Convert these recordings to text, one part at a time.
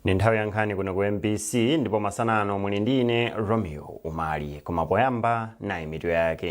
ndi nthawi ya nkhani kuno ku mbc ndipo masana ano muli ndine romeo umali koma poyamba nayi mitu yake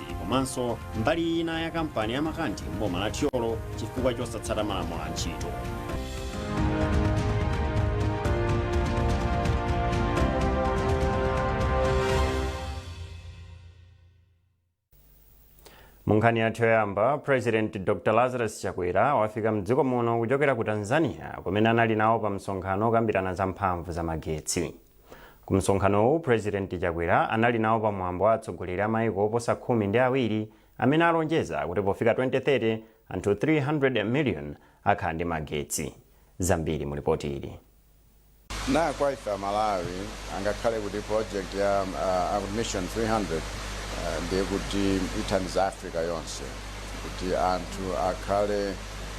Ntchisi komanso mbali ina ya kampani ya Makanthi m'boma la Thyolo chifukwa chosatsata malamulo a ntchito. munkhani yathu yoyamba president dr lazarus chakwera wafika mdziko muno kuchokera ku tanzania kumene anali nawo pa msonkhano okambirana za mphamvu za magetsi Ku msonkhanowu, Purezidenti Chakwera anali nawo pa mwambo wa atsogoleri a maiko oposa khumi ndi awiri amene alonjeza kuti pofika 2030 anthu 300 million akhala ndi magetsi. Zambiri mu lipoti ili. Na kwa ife Amalawi, angakhale kuti project ya mission 300 ndiye kuti ithandiza Africa yonse kuti anthu akhale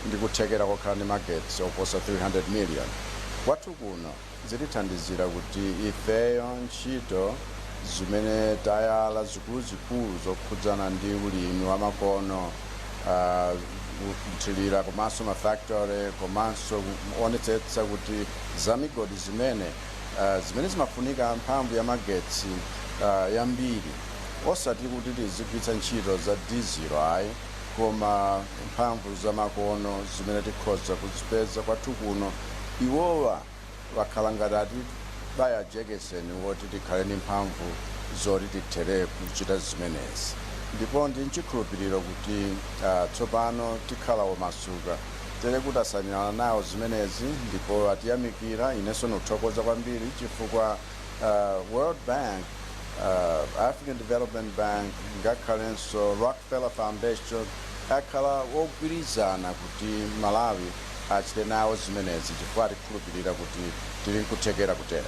ndi kuthekera kokhala ndi magetsi oposa 300 million kwathu kuno? zitithandizira kuti ifeyo ntchito zimene tayala zikuluzikulu zokhudzana ndi ulimi wa makono, kuthilira komanso ma factory komanso kuonetsetsa kuti za migodi zimene zimene zimafunika mphamvu ya magetsi yambiri osati kuti tizigwiritsa ntchito za diesel ayi. koma mphamvu zamakono zimene tikhoza kuzipeza kwathu kuno, iwowa wakhala ngati atibaya jekeseni woti tikhale ndi mphamvu zoti tithele kuchita zimenezi. Ndipo ndi nchikhulupiliro kuti tsopano tikhala omasuka tere kuti tasainirana nawo zimenezi ndipo atiyamikira inenso ndikuthokoza kwambiri chifukwa. uh, World Bank, uh, African Development Bank, ngakhalenso Rockefeller Foundation akhala ogwirizana kuti Malawi achite nawo zimenezi chifukwa atikhulupirira kuti tili nkuthekera kutero.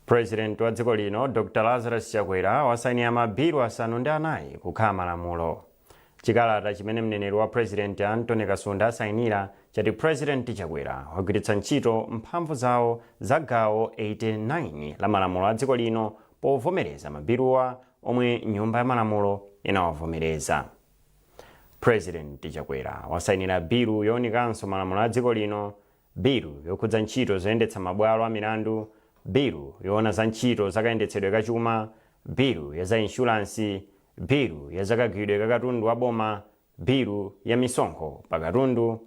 president wa dziko lino dr lazarus chakwera wasainira mabilu asanu ndi anayi kukhala malamulo Chikalata chimene mneneri wa President Anthony Kasunda asayinira chati President Chakwera wagwiritsa ntchito mphamvu zawo za gawo 89 la malamulo a dziko lino povomereza mabiluwa omwe nyumba ya malamulo inawavomereza. President Chakwera wasayinira bilu yowunikanso malamulo a dziko lino Bilu yokhudza ntchito zoyendetsa mabwalo a milandu, Bilu yoona za ntchito za kayendetsedwe ka chuma, Bilu ya za inshulansi, Bilu ya za kagwiridwe ka katundu wa boma, Bilu ya misonkho pa katundu,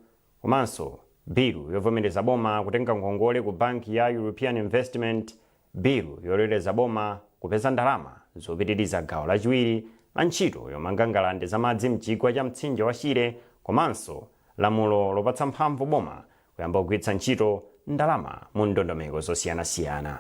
komanso Bilu yovomereza boma kutenga ngongole ku banki ya European Investment Bilu yololeza boma kupeza ndalama zopitiriza gawo lachiwiri la ntchito yomanga ngalande za madzi m'chigwa cha mtsinje wa Shire komanso lamulo lopatsa mphamvu boma kuyamba kugwiritsa ntchito ndalama mu ndondomeko zosiyanasiyana.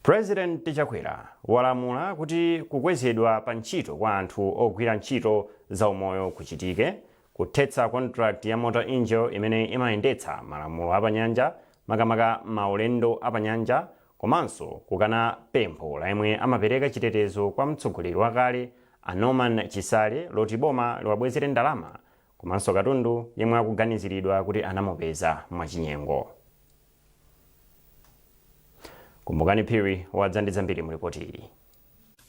Pulezidenti Chakwera walamula kuti kukwezedwa pa ntchito kwa anthu ogwira ntchito zaumoyo kuchitike Kuthetsa contract ya Mota Engil imene imayendetsa malamulo apanyanja makamaka maulendo apanyanja komanso kukana pempho la yemwe amapereka chitetezo kwa mtsogoleri wakale a Norman Chisale loti boma liwabwezere ndalama komanso katundu yemwe akuganiziridwa kuti anamupeza mwachinyengo. Kumbukani Phiri wadza ndi zambiri mu lipoti ili.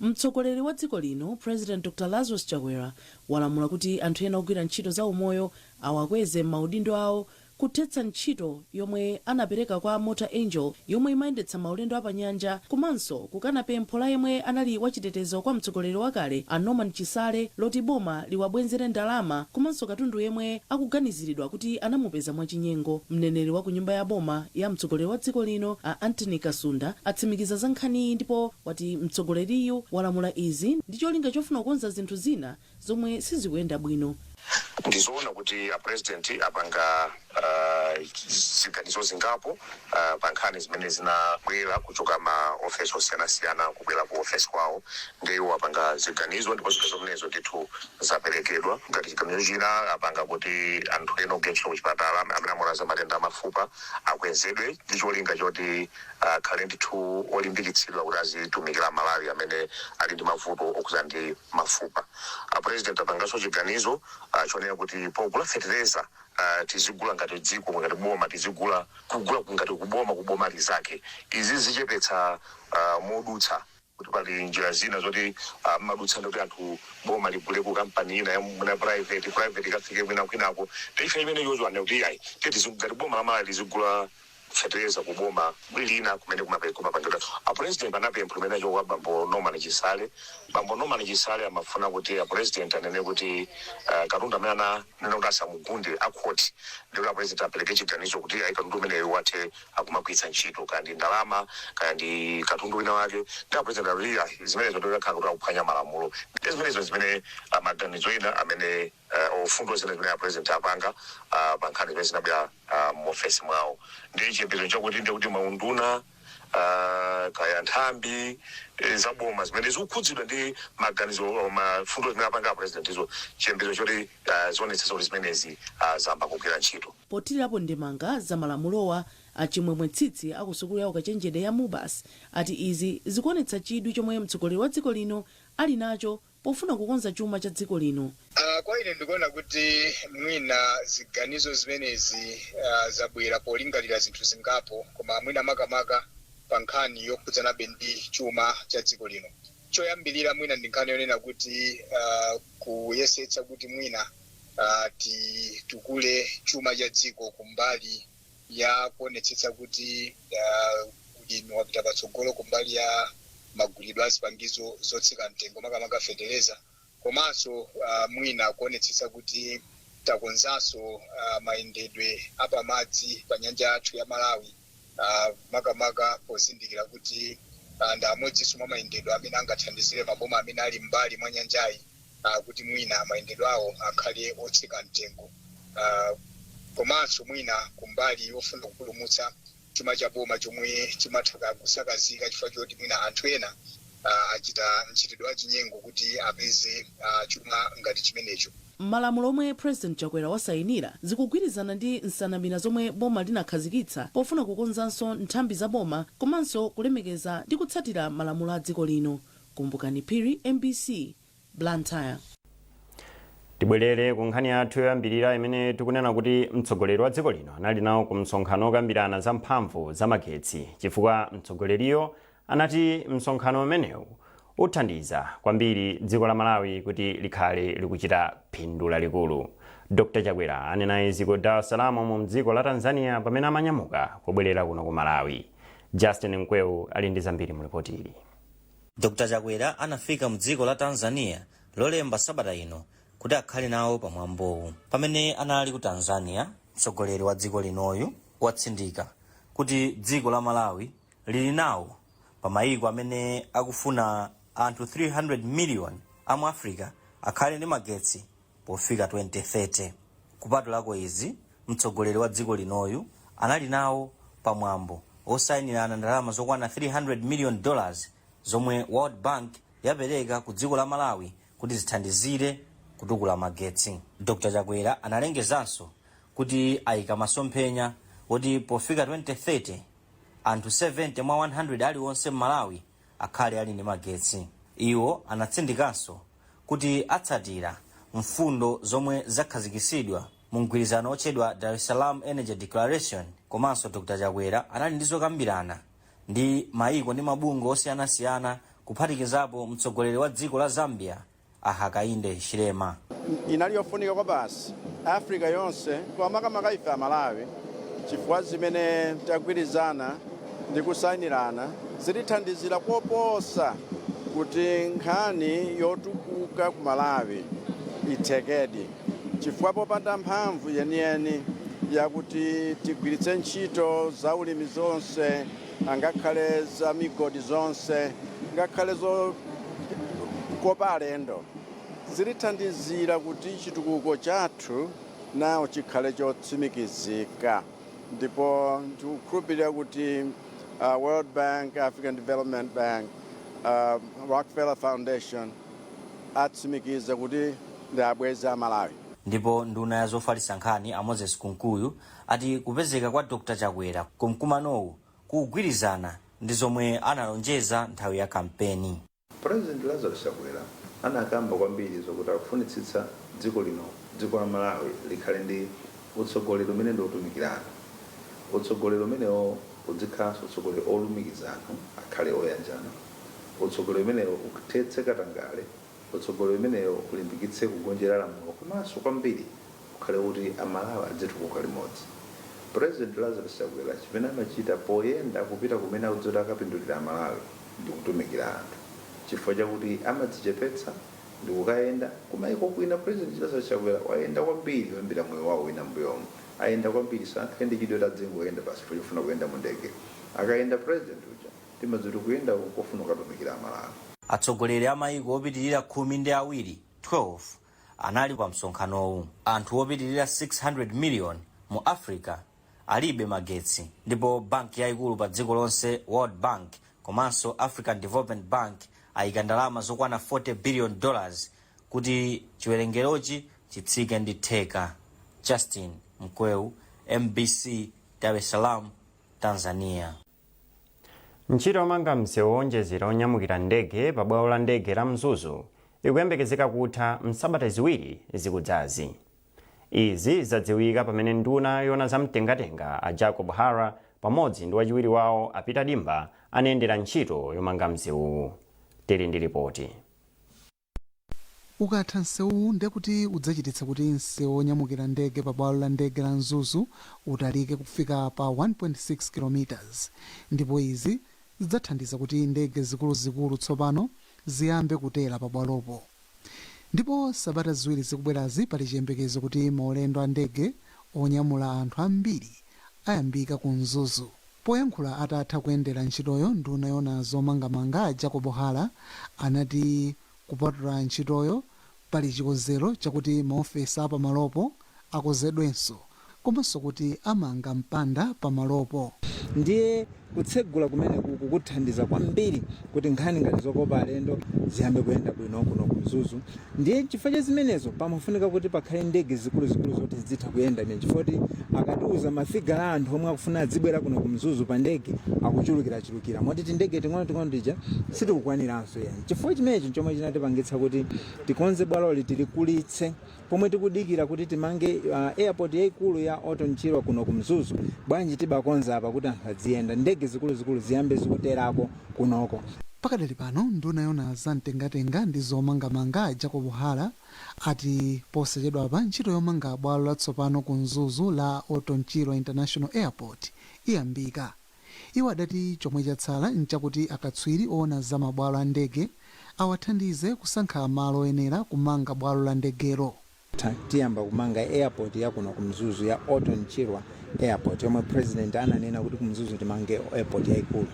Mtsogoleri wa dziko lino President Dr Lazarus Chakwera walamula kuti anthu ena ogwira ntchito za umoyo awakweze m'maudindo awo kuthetsa ntchito yomwe anapereka kwa Mota Engil yomwe imayendetsa maulendo a pa nyanja komanso kukana pempho la yemwe anali wachitetezo kwa mtsogoleri wakale a Norman Chisale loti boma liwabwenzere ndalama komanso katundu yemwe akuganiziridwa kuti anamupeza mwachinyengo. Mneneri wa ku nyumba ya boma ya mtsogoleri wa dziko lino a Anthony Kasunda atsimikiza za nkhaniyi ndipo wati mtsogoleriyu walamula izi ndi cholinga chofuna kukonza zinthu zina zomwe sizikuyenda bwino. Ndi zoona kuti a president apanga ziganizo zingapo pa nkhani zimene zinabwera kuchoka ma ofesi osiyanasiyana kubwera ku ofesi kwawo nde iwo apanga ziganizo ndipo ziganizo zimenezo ndithu zaperekedwa ngati chiganizo china apanga kuti anthu ena ogwira ntchito kuchipatala amene amaona za matenda a mafupa akwezedwe ndi cholinga choti akhale ndithu olimbikitsidwa kuti azitumikira Amalawi amene ali ndi mavuto okhudzana ndi mafupa. A president apanganso chiganizo chonena kuti pogula fetereza tizigula ngati dziko ngati boma tizigula kugula ngati kuboma kuboma linzake. Izi zichepetsa modutsa. kuti pali njira zina zoti amadutsa ndikuti anthu boma ligule ku kampani ina ya mwina private private ikafike mwina kwinako ndiye imeneyo anena kuti ayi tete zikugati boma la Malawi lizigula fetereza ku boma lina kumene kumape kumapangidwa a president anapempha kumene achoka kwa bambo Norman Chisale bambo Norman Chisale amafuna kuti a president anene kuti uh, katundu amene ananena kuti asamugunde a court ndikuti a president apereke chiganizo kuti ayi katundu umeneyo wathe akumagwiritsa ntchito kaya ndi ndalama kaya ndi katundu wina wake ndipo apulezidenti akuchita zimenezo ndiye kudzakhala kuti akuphwanya malamulo ndiye zimenezo zimene ah, maganizo ena amene eh, mfundo zina zimene apulezidenti apanga ah, pa nkhani zimene zinabwera ah, mu ofesi mwawo ndi chiyembekezo chakuti ndiye kuti maunduna ah, kaya nthambi eh, za boma zimene zikukhudzidwa ndi maganizo oh, mfundo zimene apanga apulezidentizo chiyembekezo choti ah, zionetsetsa kuti zimenezi ah, zayamba kugwira ntchito Pothilirapo ndemanga za malamulowa, a Chimwemwe Tsitsi a ku sukulu ya ukachenjede ya Mubas ati izi zikuonetsa chidwi chomwe mtsogoleri wa dziko lino ali nacho pofuna kukonza chuma cha dziko lino. Kwa ine ndikuona kuti mwina ziganizo zimenezi zabwera polingalira zinthu zingapo koma mwina makamaka pa nkhani yokhudzanabe ndi chuma cha dziko lino. Choyambirira mwina ndi nkhani yonena kuti kuyesetsa kuti mwina. uh, titukule chuma cha dziko kumbali ya kuonetsetsa kuti uh, ulimi wapita patsogolo kumbali ya magulidwe a zipangizo zotsika mtengo makamaka fetereza komanso uh, mwina kuonetsetsa kuti takonzanso uh, mayendedwe apamadzi pa nyanja yathu ya malawi ah, makamaka pozindikira kuti ah, ndi amodzinso mwa mayendedwe amene angathandizire maboma amene ali m'mbali mwa nyanjayi ah, kuti mwina mayendedwe awo akhale otsika mtengo Ah, komanso mwina kumbali yofuna kupulumutsa chuma cha boma chomwe chimatha kusakazika chifukwa choti mwina anthu ena ah, achita mchitidwe wa chinyengo kuti apeze ah, chuma ngati chimenecho Malamulo omwe President Chakwera wasainira zikugwirizana ndi nsanamira zomwe boma linakhazikitsa pofuna kukonzanso nthambi za boma komanso kulemekeza ndi kutsatira malamulo a dziko lino. Kumbukani Phiri, mbc, Blantyre. Tibwerere ku nkhani yathu yoyambirira imene tikunena kuti mtsogoleri wa dziko lino anali nawo ku msonkhano okambirana za mphamvu za magetsi chifukwa mtsogoleriyo anati msonkhano umenewu uthandiza kwambiri dziko la Malawi kuti likhale likuchita phindu lalikulu. Dr Chakwera anena izi ku Dar es Salaam mdziko la Tanzania pamene amanyamuka kubwerera kuno ku Malawi. Justin Mkweu ali ndi zambiri mu lipoti ili. Dr Chakwera anafika mdziko la Tanzania lolemba sabata ino kuti akhale nawo pa mwambowu. Pamene anali ku Tanzania, mtsogoleri wa dziko linoyu watsindika kuti dziko la Malawi lili nawo pa mayiko amene akufuna anthu 300 miliyoni a mu Africa akhale ndi magetsi pofika 2030. Kupatulako izi, mtsogoleri wa dziko linoyu anali nawo pa mwambo osayinirana ndalama zokwana 300 miliyoni dollars zomwe World Bank yapereka ku dziko la Malawi kuti zithandizire kutukula magetsi. Dr Chakwera analengezanso kuti ayika masomphenya oti pofika 2030, Anthu 70 mwa 100 aliwonse m'Malawi akhale ali ndi magetsi. Iwo anatsindikanso kuti atsatira mfundo zomwe zakhazikitsidwa mu mgwirizano otchedwa Dar es Salaam Energy Declaration komanso Dr Chakwera anali ndi zokambirana ndi maiko ndi mabungwe osiyanasiyana kuphatikizapo mtsogoleri wa dziko la Zambia a Hakainde Hichilema. inali yofunika kwabasi africa yonse koma makamaka ife amalawi chifukwa zimene tagwirizana ndi kusayinirana zitithandizira koposa kuti nkhani yotukuka ku malawi ithekedi chifukwa popanda mphamvu yeniyeni yakuti tigwiritse ntchito za ulimi zonse angakhale za migodi zonse, ngakhale zokopa alendo, zitithandizira kuti chitukuko chathu nacho chikhale chotsimikizika. Ndipo ndikukhulupirira kuti uh, World Bank, African Development Bank, uh, Rockefeller Foundation atsimikiza kuti ndi abwenzi a Malawi. Ndipo nduna ya zofalitsa nkhani a Moses Kunkuyu ati kupezeka kwa Dr Chakwera ku mkumanowu kukugwirizana ndi zomwe analonjeza nthawi ya kampeni. President Lazarus Chakwera anakamba kwambiri zokuti akufunitsitsa dziko lino, dziko la Malawi, likhale ndi utsogoleri umene ndi otumikirana. Utsogoleri umenewo udzikhalanso utsogoleri olumikiza anthu akhale oyanjana. Utsogoleri umenewo ukuthetse katangale. Utsogoleri umenewo ulimbikitse kugonjera lamulo komanso kwambiri ukhale kuti a Malawi adzitukuka limodzi. President Lazarus Chakwera chimene amachita poyenda kupita kumene akudziwa kuti akapindulira a Malawi ndi kutumikira anthu chifukwa chakuti amadzichepetsa ndi kukayenda kumaiko kwina. President Lazarus Chakwera wayenda kwambiri kuyambira moyo wawo wina m'mbuyomu. Ayenda kwambiri, sangakhale ndi chidwi kuti adzingoyenda basi chifukwa chofuna kuyenda mu ndege. Akayenda President uja timadziwa kuti kuyendako n'kofuna kukatumikira a Malawi. Atsogoleri a maiko opitirira khumi ndi awiri, 12, anali pamsonkhanowu. Anthu opitirira 600 miliyoni mu Africa alibe magetsi ndipo banki yaikulu padziko lonse, World Bank, komanso African Development Bank aika ndalama zokwana 40 biliyoni dollars kuti chiwerengerochi chitsike ndi theka. Justin Mkweu, mbc, Dar es Salaam, Tanzania. Ntchito yomanga msewu woonjezera onyamukira ndege pa bwalo la ndege la Mzuzu ikuyembekezeka kutha m'sabata ziwiri zikudzazi. Izi zadziwika pamene nduna yoona za mtengatenga a Jacob Hara pamodzi ndi wachiwiri wawo a Peter Dimba anayendera ntchito yomanga msewuwu. Tili ndi lipoti. Ukatha nsewuwu ndekuti udzachititsa kuti nsewu wonyamukira ndege pa bwalo la ndege la Mzuzu utalike kufika pa 1.6 kilometers ndipo izi zidzathandiza kuti ndege zikuluzikulu tsopano ziyambe kutera pa bwalopo ndipo sabata ziwiri zikubwerazi pali chiyembekezo kuti maulendo a ndege onyamula anthu ambiri ayambika ku Mzuzu. Poyankhula atatha kuyendera ntchitoyo nduna yoona zomangamanga a Jacob Hara anati kupatula ntchitoyo pali chikonzero chakuti maofesi a pamalopo akonzedwenso komanso kuti amanga mpanda pamalopo. Ndiye Kutsegula kumeneku kukathandiza kwambiri kuti nkhani ngati zokopa alendo ziyambe kuyenda bwino kuno ku Mzuzu ndiye chifukwa cha zimenezo pamafunika kuti pakhale ndege zikuluzikulu zoti zidzitha kuyenda imeneyi chifukwa kuti akatiuza mafigala a anthu omwe akufuna adzibwera kuno ku Mzuzu pa ndege akuchulukirachulukira moti tindege ting'onoting'ono tija sitikukwaniranso. Chifukwa chimenechi n'chomwe chinatipangitsa kuti tikonze bwaloli tilikulitse Pomwe tikudikira kuti timange airport yaikulu ya Orton Chirwa kuno ku Mzuzu, bwanji tibakonza apa kuti anthu adziyenda, ndege zikuluzikulu ziyambe zikuterako kunoko. Pakadali pano, nduna yoona za mtengatenga ndi zomangamanga a Jacob Hara ati posachedwapa ntchito yomanga bwalo latsopano ku Mzuzu la Orton Chirwa International Airport iyambika. Iwo adati chomwe chatsala n'chakuti akatswiri oona za mabwalo a ndege awathandize kusankha malo oyenera kumanga bwalo la ndegelo. Tiyamba kumanga airport ya kuno ku Mzuzu ya Orton Chirwa Airport yomwe President ananena kuti ku Mzuzu timange airport yaikulu.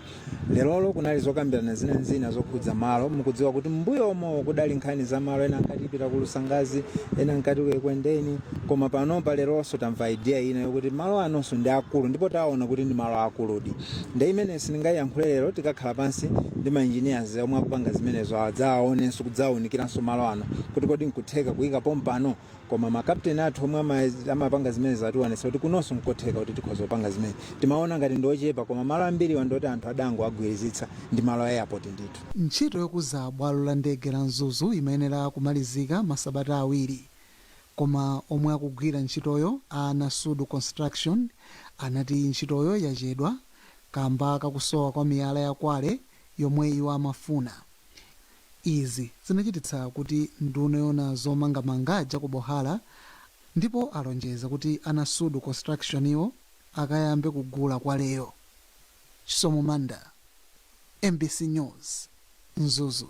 Lerolo kunali zokambirana zina n'zina zokhudza malo. Mukudziwa kuti m'mbuyomo kudali nkhani za malo ena ankati tipita ku Lusangazi, ena ankati ku Ekwendeni. Koma panopa leronso tamva idea ina yokuti malo anonso ndi akulu ndipo tawaona kuti ndi malo aakuludi. Nde imeneyo sindingayiyankhule lero, tikakhala pansi ndi ma engineers omwe akupanga zimenezo awa adzawaonenso kudzawaunikiranso malo ano kuti kodi nkutheka kuyika pompano? Koma ma captain athu omwe amapanga zimenezo atiwonetsa kuti kunonso nkotheka kuti tikhoza kupanga zimenezi. Timawona ngati ndi ochepa koma malo ambiriwa ndi oti anthu adangowagwirizitsa ndi malo a airport ndithu. Ntchito yokuza bwalo la ndege la Mzuzu imayenera kumalizika masabata awiri Koma omwe akugwira ntchitoyo a Nasudu Construction anati ntchitoyo yachedwa kamba kakusowa kwa miyala ya kware yomwe iwo amafuna. Izi zinachititsa kuti nduna yoona zomangamanga Jacob Hara ndipo alonjeza kuti a Nasudu Constructionwo akayambe kugula kwareyo. Chisomo Manda, mbc News, Mzuzu.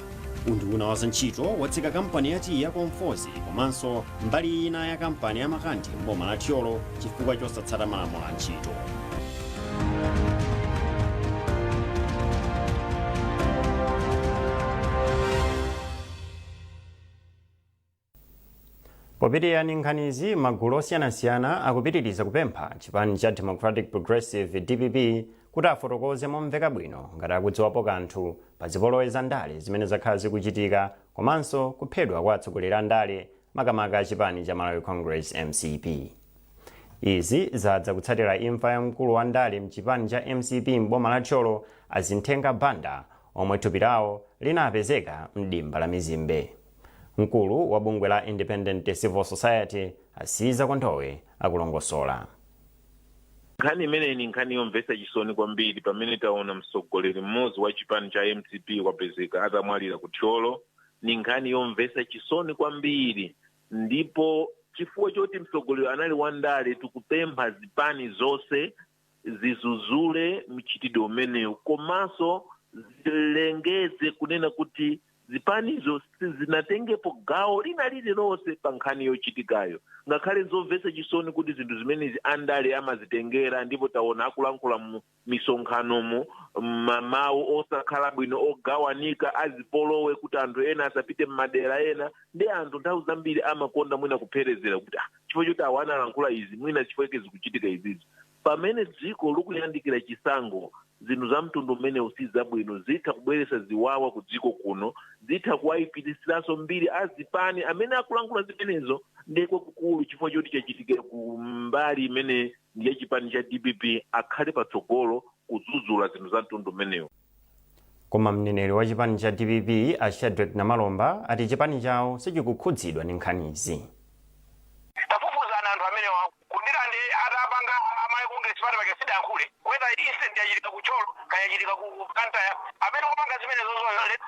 Unduna wa zantchito watseka kampani ya tiyi ya Conforzi komanso mbali ina ya kampani ya Makandi m'boma la Thyolo chifukwa chosatsata malamulo a ntchito. Popitirira ndi nkhanizi, magulu osiyanasiyana akupitiriza kupempha chipani cha Democratic Progressive, dpp, kuti afotokoze momveka bwino ngati akudziwapo kanthu pa zipolowe za ndale zimene zakhala zikuchitika komanso kuphedwa kwa atsogoleri andale makamaka a chipani cha Malawi Congress, mcp. Izi zadza kutsatira imfa ya mkulu wa ndale mchipani cha mcp m'boma la Thyolo a Zinthenga Banda omwe thupi lawo linapezeka m'dimba la mizimbe. Mkulu wa bungwe la Independent Civil Society a Caesar Kondowe akulongosola. Nkhani imeneyi ni nkhani yomvetsa chisoni kwambiri pamene taona mtsogoleri mmodzi wa chipani cha mcp wapezeka atamwalira ku thyolo ni nkhani yomvetsa chisoni kwambiri ndipo chifukwa choti mtsogoleri anali wandale tikupempha zipani zonse zizuzule mchitidwe umenewu komanso zilengeze kunena kuti zipanizo sizinatengepo gawo lina lililonse pa nkhani yochitikayo ngakhale nzomvetsa chisoni kuti zinthu zimenezi andale amazitengera ndipo taona akulankhula mu misonkhanomo mmawu osakhala bwino ogawanika azipolowe kuti anthu ena asapite m'madera ena ndi anthu nthawi zambiri amakonda mwina kupherezera kuti ah, chifukwa choti awa analankhula izi mwina chifukwa chake zikuchitika izizi pamene dziko likuyandikira chisankho zinthu za mtundu umenewu si zabwino zitha kubweretsa ziwawa ku dziko kuno zitha kuwayipitsiranso mbiri azipani amene akulankhula zimenezo ndiye kwakukulu chifukwa choti chachitikira ku mbali imene ndi ya chipani cha dpp akhale patsogolo kudzudzula zinthu za mtundu umenewu Koma mneneri wa chipani cha dpp a Shadreck Namalomba ati chipani chawo sichikukhudzidwa ndi nkhanizi. Tafufuzani anthu amenewa kudira nde atapanga amai congress party paja sidayankhule whether incident yachitika ku thyolo kaya yachitika ku blantyre amene wapanga zimenezozo let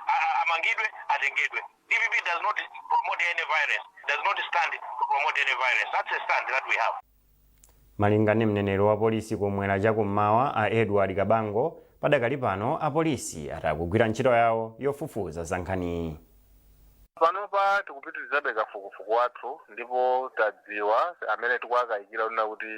amangidwe atengedwe dpp does not promote any violence does not stand to promote any violence that's a stand that we have. Malinga ndi mneneri wa polisi kum'mwera cha ku m'mawa a Edward Kabango, padakali pano apolisi ati akugwira ntchito yawo yofufuza za nkhaniyi. Panopa tikupitilizabe kafukufuku wathu ndipo tadziwa amene tikuwakayikira kunena kuti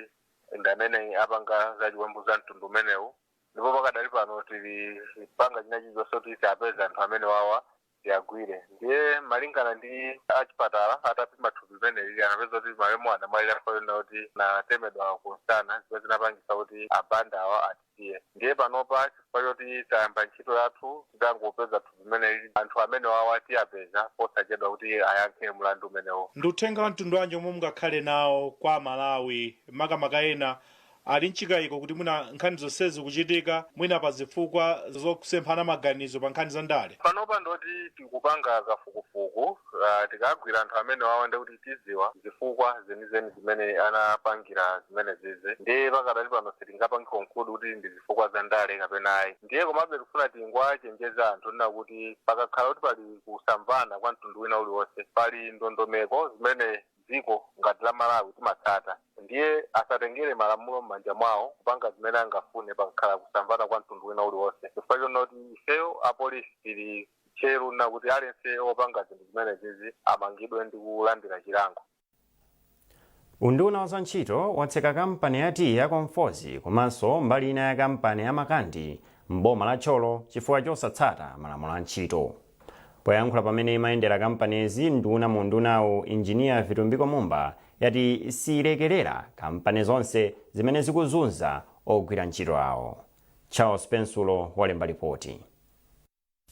ndi amene apanga za chiwembu za mtundu umenewu ndipo pakadali pano tilipanga china chilichonse kuti tiapeze anthu amenewawa Tiagwire. Ndiye malingana ndi achipatala atapima thupi limene lili anapeza kuti malemu anamwalira chifukwa chonena kuti anatemedwa kumsana zimene zinapangisa kuti a Banda awa atisiye. Ndiye panopa chifukwa choti tayamba ntchito yathu titangopeza thupi limene lili anthu amenewawa tiapeza posachedwa kuti ayankhe mlandu umenewu. Ndi uthenga wa mtundu wanji omwe mungakhale nawo kwa aMalawi makamaka ena Ali n'chikaiko kuti mwina nkhani zonsezi zikuchitika mwina pa zifukwa zosemphana maganizo pa nkhani za ndale. Panopa ndoti tikupanga kafukufuku, tikagwira anthu amenewawa ndiye kuti tidziwa zifukwa zenizeni zimene anapangira zimenezizi. Ndiye pakadali pano sitingapange conclude kuti ndi zifukwa za ndale kapena ayi. Ndiye komabe tikufuna tingowachenjeza anthu kunena kuti pakakhala kuti pali kusamvana kwa mtundu wina uliwonse, pali ndondomeko zimene dziko ngati la Malawi timatsata ndiye asatengere malamulo mmanja mwawo kupanga zimene angafune pakakhala kusamvana kwa mtundu wina uliwonse chifukwa chonena kuti ifeyo apolisi tili tcheru kunena kuti aliyense opanga zinthu zimenezizi amangidwe ndi kulandira chilango. Unduna wa za ntchito watseka kampani ya tiyi ya Conforzi komanso mbali ina ya kampani ya Makandi m'boma la Thyolo chifukwa chosatsata malamulo a ntchito. Poyankhula pamene imayendera kampanizi, nduna mu undunawu Engineer Vitumbiko Mumba yati siyilekelera kampani zonse zimene zikuzunza ogwira ntchito awo. Charles Pensulo walemba lipoti.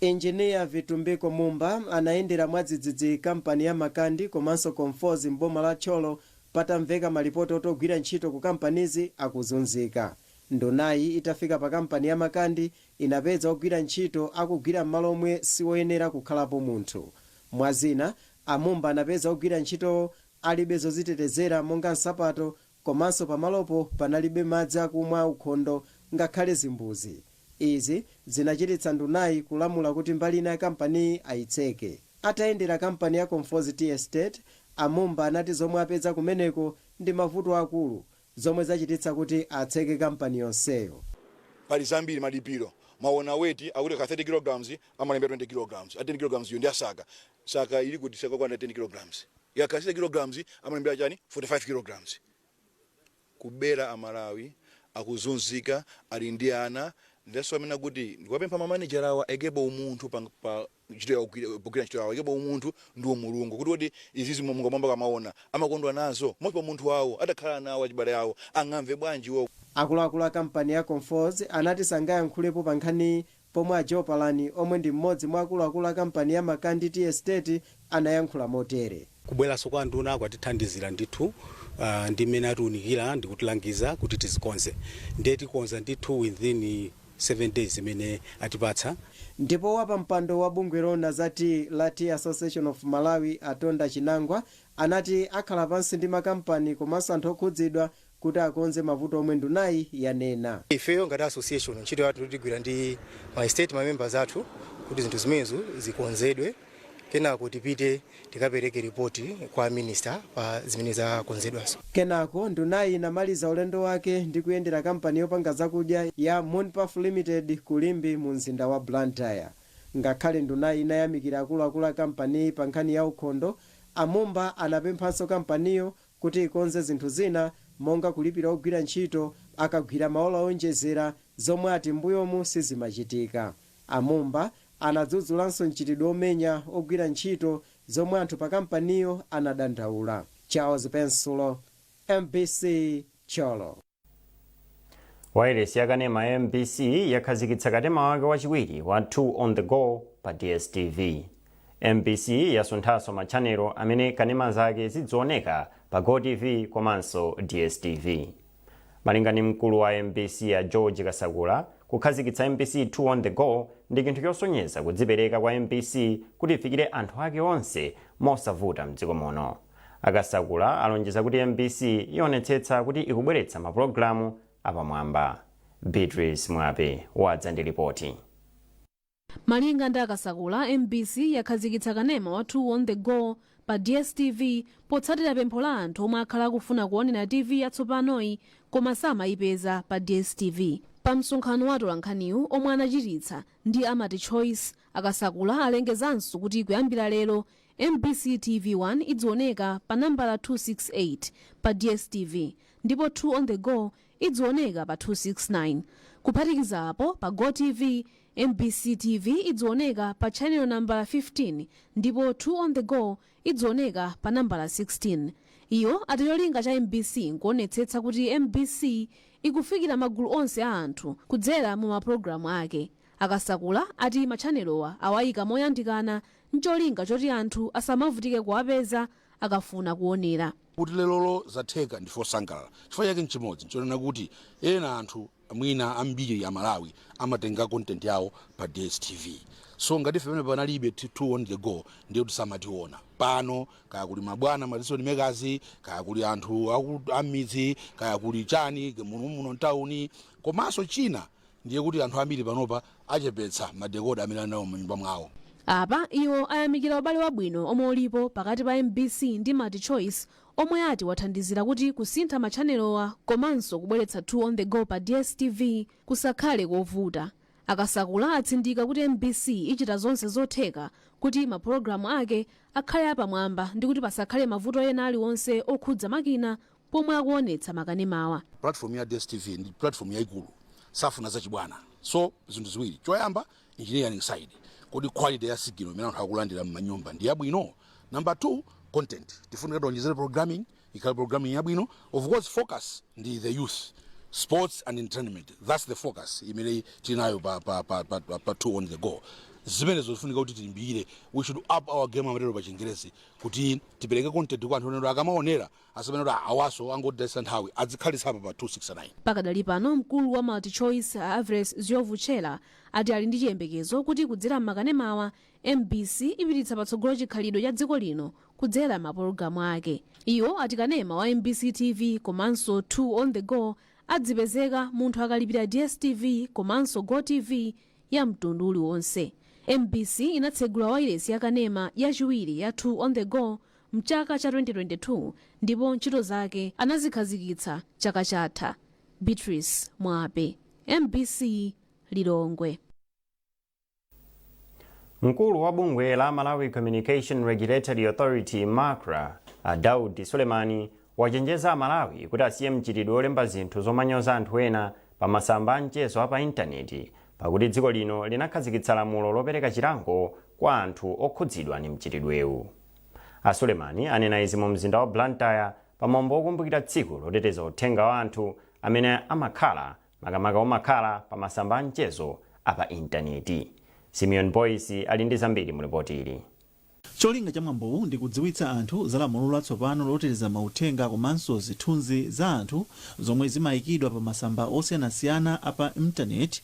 Engineer Vitumbiko Mumba anayendera mwadzidzidzi kampani ya Makandi komanso Conforzi m'boma la Thyolo patamveka malipoti oti ogwira ntchito ku kampanizi akuzunzika. Ndunayi itafika pa kampani ya Makandi, inapeza ogwira ntchito akugwira m'malo omwe siwoyenera kukhalapo munthu. Mwa zina, a Mumba anapeza ogwira ntchitowo alibe zodzitetezera monga nsapato komanso pamalopo panalibe madzi akumwa aukhondo ngakhale zimbuzi. Izi zinachititsa ndunayi kulamula kuti mbali ina ya kampaniyi ayitseke. Atayendera kampani ya Conforzi Tea Estate, a Mumba anati zomwe apeza kumeneko ndi mavuto akulu zomwe zachititsa kuti atseke kampani yonseyo. Pali zambiri malipiro mwaona weti akuti akakhala 30 kg amalembera 20 kg a 10 kg yo ndi ya saka saka ili kuti saka lokwana 10 kg akakhala 60 kg amalembera chani 45 kg kubera amalawi akuzunzika ali ndi ana enanso amene kuti ndikuwapempha ma manager awa aikepo umunthu pa, pa ntchito yawo kugwira pogwira ntchito yawo yebo umunthu ndi umulungu kuti kodi izizi Mulungu m'mwamba akamaona amakondwa nazo moti pa munthu wawo atakhala nawo achibale awo angamve bwanji iwo Akuluakulu a kampani ya Conforzi anati sangayankhulepo pa nkhaniyi pomwe a Joe Palani omwe ndi m'modzi mwa akuluakulu a kampani ya Makandi Tea Estate anayankhula motere. Kubweranso kwa anduna kwatithandizira ndithu ndi mmene atiunikira ndikutilangiza kuti tizikonze ndiye tikonza ndithu within 7 days imene atipatsa. Ndipo wapampando wa bungwe loona za tiyi la Tea Association of Malawi a Tonda Chinangwa anati akhala pansi ndi makampani komanso anthu okhudzidwa kuti akonze mavuto omwe ndunayi yanena. Ifeyo ngati association ntchito yathu tigwira ndi ma estate ma members athu kuti zinthu zimenezo zikonzedwe kenako tipite tikapereke ripoti kwa minister pa zimene zakonzedwazo. Kenako ndunayi inamaliza ulendo wake ndi kuyendera kampani yopanga zakudya ya Moon Puff Limited ku Limbe mu mzinda wa Blantyre. Ngakhale ndunayi inayamikira akuluakulu a kampaniyi pa nkhani ya ukhondo, a Mumba anapemphanso kampaniyo kuti ikonze zinthu zina monga kulipira ogwira ntchito akagwira maola oonjezera zomwe ati mmbuyomu sizimachitika. A Mumba anadzudzulanso mchitidwe omenya ogwira ntchito zomwe anthu pa kampaniyo anadandaula. Charles Pensulo, mbc, Thyolo. wailesi yakanema ya mbc yakhazikitsa kanema wake wachiwiri wa 2 on the go pa dstv mbc yasunthanso matchanelo amene kanema zake zidzioneka pa gotv komanso dstv malinga ndi mkulu wa mbc a george kasakula kukhazikitsa mbc 2 on the go ndi chinthu chosonyeza kudzipereka kwa mbc kuti ifikire anthu ake onse mosavuta mdziko muno A Kasakula alonjeza kuti mbc ionetsetsa kuti ikubweretsa mapulogalamu apamwamba. Beatrice Mwape wadza ndi lipoti. Malinga ndi a Kasakula, mbc yakhazikitsa kanema wa Two on the Go pa dstv potsatira pempho la anthu omwe akhala akufuna kuonera TV yatsopanoyi koma samayipeza pa dstv. Pa msonkhano wa atolankhaniwu omwe anachititsa ndi a Multichoice, a Kasakula alengezanso kuti kuyambira lero Mbc TV 1 idzioneka pa nambala 268 pa DStv ndipo 2 on the Go idzioneka pa 269. Kuphatikiza apo, pa GOtv, mbc TV idzioneka pa chanelo nambala 15 ndipo 2 on the Go idzioneka pa nambala 16. Iwo ati cholinga cha mbc nkuonetsetsa kuti mbc ikufikira magulu onse a anthu kudzera mu mapulogalamu ake. A Kasakula ati machanelowa awaika moyandikana n'cholinga choti anthu asamavutike kuwapeza akafuna kuonera. Kuti lerolo zatheka ndife osangalala chifukwa chake n'chimodzi, n'chonena kuti ena anthu mwina ambiri Amalawi amatenga content yawo pa DSTV so ngati ife pamene panalibe two on the go ndiye kuti samationa. Pano kaya kuli mabwana ma decision makers, kaya kuli anthu a m'midzi, kaya kuli chani muno muno m'tauni komanso china Ndiye kuti anthu ambiri panopa achepetsa ma decoder amene ali nawo m'manyumba mwawo. Apa iwo ayamikira ubale wabwino omwe ulipo pakati pa mbc ndi Multichoice omwe ati wathandizira kuti kusintha ma tchanelowa komanso kubweretsa 2 on the go pa DStv kusakhale kovuta. A Kasakula atsindika kuti mbc ichita zonse zotheka kuti mapologalamu ake akhale apamwamba ndikuti pasakhale mavuto ena aliwonse okhudza makina pomwe akuonetsa makanemawa. Platform ya dstv ndi platform yaikulu safuna zachibwana so zinthu ziwiri choyamba engineering side kodi quality ya signal imene anthu akulandira m'manyumba ndi yabwino number two content tifunika tionjezere programming ikhale programming yabwino of course focus ndi the youth sports and entertainment that's the focus imene tili nayo pa, pa, pa, pa, pa, pa two on the go zimenezo zifunika kuti tilimbikire we should up our game amatero pa chingerezi kuti tipereke content kwa anthu owonera akamaonera Asamanene kuti awanso angotayitsa nthawi adzikhalitsa apa pa 269. Pakadali pano mkulu wa MultiChoice a Averess Ndhlovu Chella ati ali ndi chiyembekezo kuti kudzera m'makanemawa, mbc ipititsa patsogolo chikhalidwe cha dziko lino kudzera m'mapologalamu ake. Iwo ati kanema wa mbc TV komanso 2 on the go adzipezeka munthu akalipira DSTV komanso GOtv ya mtundu uliwonse. Mbc inatsegula wailesi ya kanema yachiwiri ya 2 on the go mchaka cha 2022 ndipo ntchito zake anazikhazikitsa chaka chatha, Beatrice Mwape, mbc, Lilongwe. Mkulu wa bungwe la Malawi Communication Regulatory Authority, macra, a Daud Sulemani wachenjeza Amalawi kuti asiye mchitidwe wolemba zinthu zomanyoza anthu ena pa masamba a mchezo a pa intaneti pakuti dziko lino linakhazikitsa lamulo lopereka chilango kwa anthu okhudzidwa ndi mchitidwewu. A Sulemani anena izi mu mzinda wa Blantyre pa mwambo wokumbukira tsiku loteteza uthenga wa anthu amene amakhala makamaka omakhala pa masamba a mchezo a pa intaneti. Simeon Boyce ali ndi zambiri mu lipoti ili. Cholinga cha mwambowu ndi kudziwitsa anthu za lamulo latsopano loteteza mauthenga komanso zithunzi za anthu zomwe zimaikidwa pa masamba osiyanasiyana a pa intaneti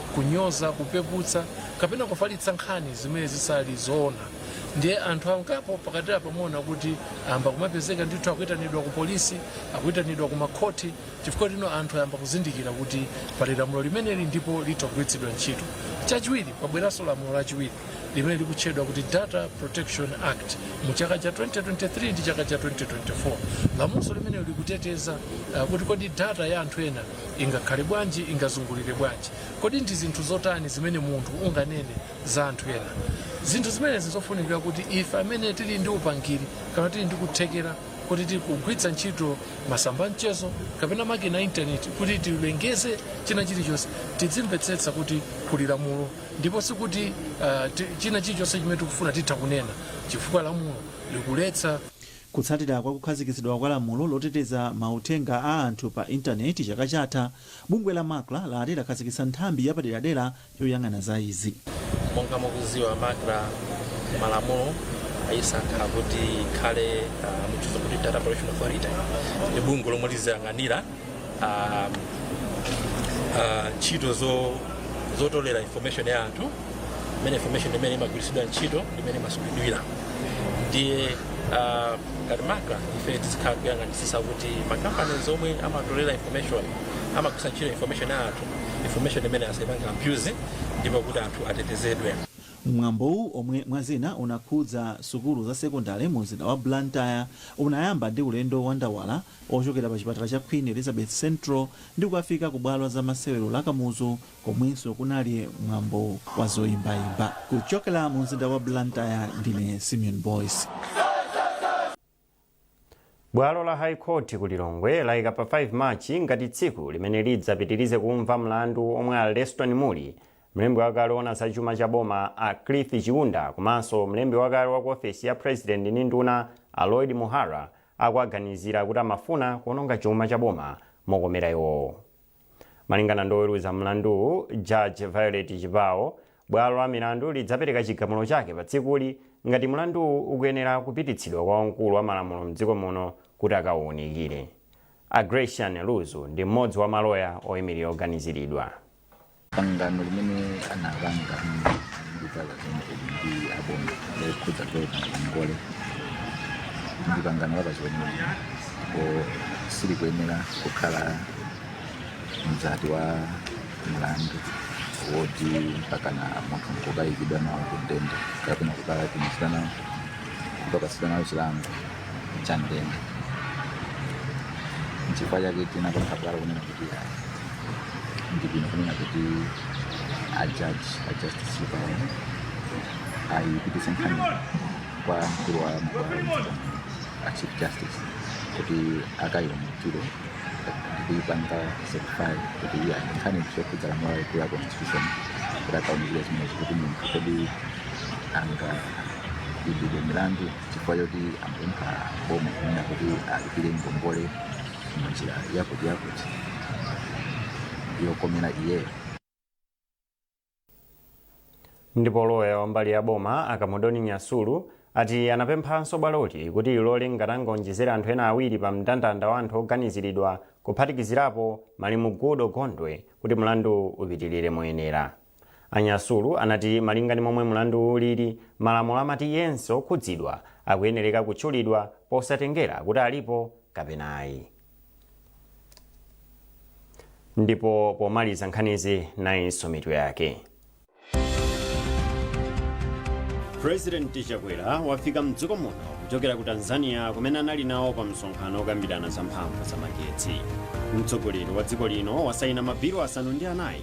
kunyoza kupeputsa kapena kufalitsa nkhani zimene zisali zoona ndiye anthu angapo pakatipa mwaona kuti ayamba kumapezeka ndithu akuitanidwa ku polisi akuitanidwa ku makhoti chifukwa choti anthu ayamba kuzindikira kuti pali lamulo limeneli ndipo litha kugwiritsidwa ntchito chachiwiri pabweranso lamulo lachiwiri limene likutchedwa kuti data protection act mu chaka cha 2023 ndi chaka cha 2024 lamulo limene likuteteza uh, kuti kodi data ya anthu ena ingakhale bwanji ingazungulire bwanji kodi ndi zinthu zotani zimene munthu unganene za anthu ena zinthu zimenezi zofunika kuti ife amene tili ndi upangiri kapena tili ndi kuthekera kuti tikugwiritsa ntchito masamba a mchezo kapena makina a intaneti kuti tilengeze china chilichonse tidzimvetsetsa kuti kuli lamulo ndipo sikuti uh, china chilichonse chimene tikufuna titha kunena chifukwa lamulo likuletsa Kutsatira kwa kukhazikitsidwa kwa lamulo loteteza mauthenga a anthu pa intaneti chaka chatha, bungwe la Macra lati lakhazikitsa nthambi yapaderadera yoyang'ana za izi. Monga mukudziwa Macra malamulo ayisankha kuti ikhale muchizungu timati data protection authority ndi bungwe lomwe liziyang'anira. ah, ah, ntchito zo- zotolera information ya anthu imene information mmene imagwiritsidwa ntchito mmene imasungidwira ndiye ah, ngati macra ife tizikhala kuyang'anisisa kuti makampani omwe amatolera information amagwiritsa ntchito information ya anthu information imeneyi asaipange abuse ndipo kuti anthu atetezedwe mwambowu omwe mwazina unakhudza sukulu za sekondale mu mzinda wa blantyre unayamba ndi ulendo wa ndawala ochokera pa chipatala cha Queen Elizabeth Central ndi kukafika ku bwalo la za masewero la Kamuzu komwenso kunali mwambo wa zoimbaimba. Kuchokera mu mzinda wa Blantyre ndine Simeon Boyce. bwalo la high court ku lilongwe layika pa 5 march ngati tsiku limene lidzapitirize kumva mlandu omwe a leston muli mlembi wakale oona za chuma cha boma a cliff chiunda komanso mlembi wakale wa ku ofesi ya president ndi nduna a lloyd muhara akuwaganizira kuti amafuna kuononga chuma cha boma mokomera iwowo. Malingana ndi oweruza mlanduwu, Judge Violet Chipao, bwalo la milandu lidzapereka chigamulo chake pa tsikuli ngati mlanduwu ukuyenera kupititsidwa kwa wamkulu wa malamulo mdziko muno kuti akauunikire. A Gracian Luzu ndi mmodzi wa maloya oimilira oganiziridwa. pangano limene anapanga ndi kampani ya Muli ndi aboma lokhudza kupereka ngongole ndi pangano la pachiweniweni kotero silikuyenera kukhala mzati wa mlandu woti mpakana munthu nkukayikidwa nawo kundende kapena kukatumizidwa nawo kukapatsidwa nawo chilango cha ndende nchifukwa chake tinapempha bwalo kunena kuti ayi ndi bwino kunena kuti ajaji ajustice Chipao ayipitise nkhani kwa mkulu wa mabwalo mdziko a chief justice kuti akayiwunikire ndikuyipanga certify kuti iyi ndi nkhani zokhudza lamulo lalikulu la constitution kuti akawunikire zimenezo kuti munthu kodi angayimbidwe milandu chifukwa choti amapempha boma kunena kuti alipire ngongole mu njira yakuti yakuti yokomera iyeyo ndipo loya wa mbali ya boma a Kamudoni Nyasulu ati anapemphanso bwaloti kuti lilole ngati angaonjezere anthu ena awiri pa mndandanda wa anthu oganiziridwa kuphatikizirapo malemu Goodall Gondwe kuti mlandu upitirire moyenera A Nyasulu anati malinga ndi momwe mlanduwu ulili, malamulo amati yense okhudzidwa akuyenereka kutchulidwa posatengera kuti alipo kapena ayi. Ndipo pomaliza nkhanizi nayinso mitu yake. President Chakwera wafika mdziko muno kuchokera ku Tanzania kumene anali nawo pa msonkhano okambirana za mphamvu za magetsi. Mtsogoleri wa dziko lino wasaina mabilu asanu ndi anayi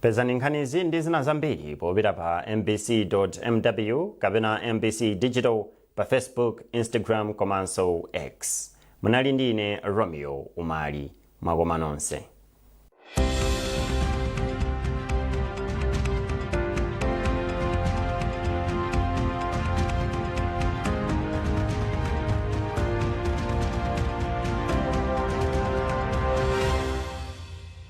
pezani nkhanizi ndi zina zambiri popita pa mbc mw kapena mbc digital pa facebook instagram komanso x munali ndi ine romeo umali mwakoma nonse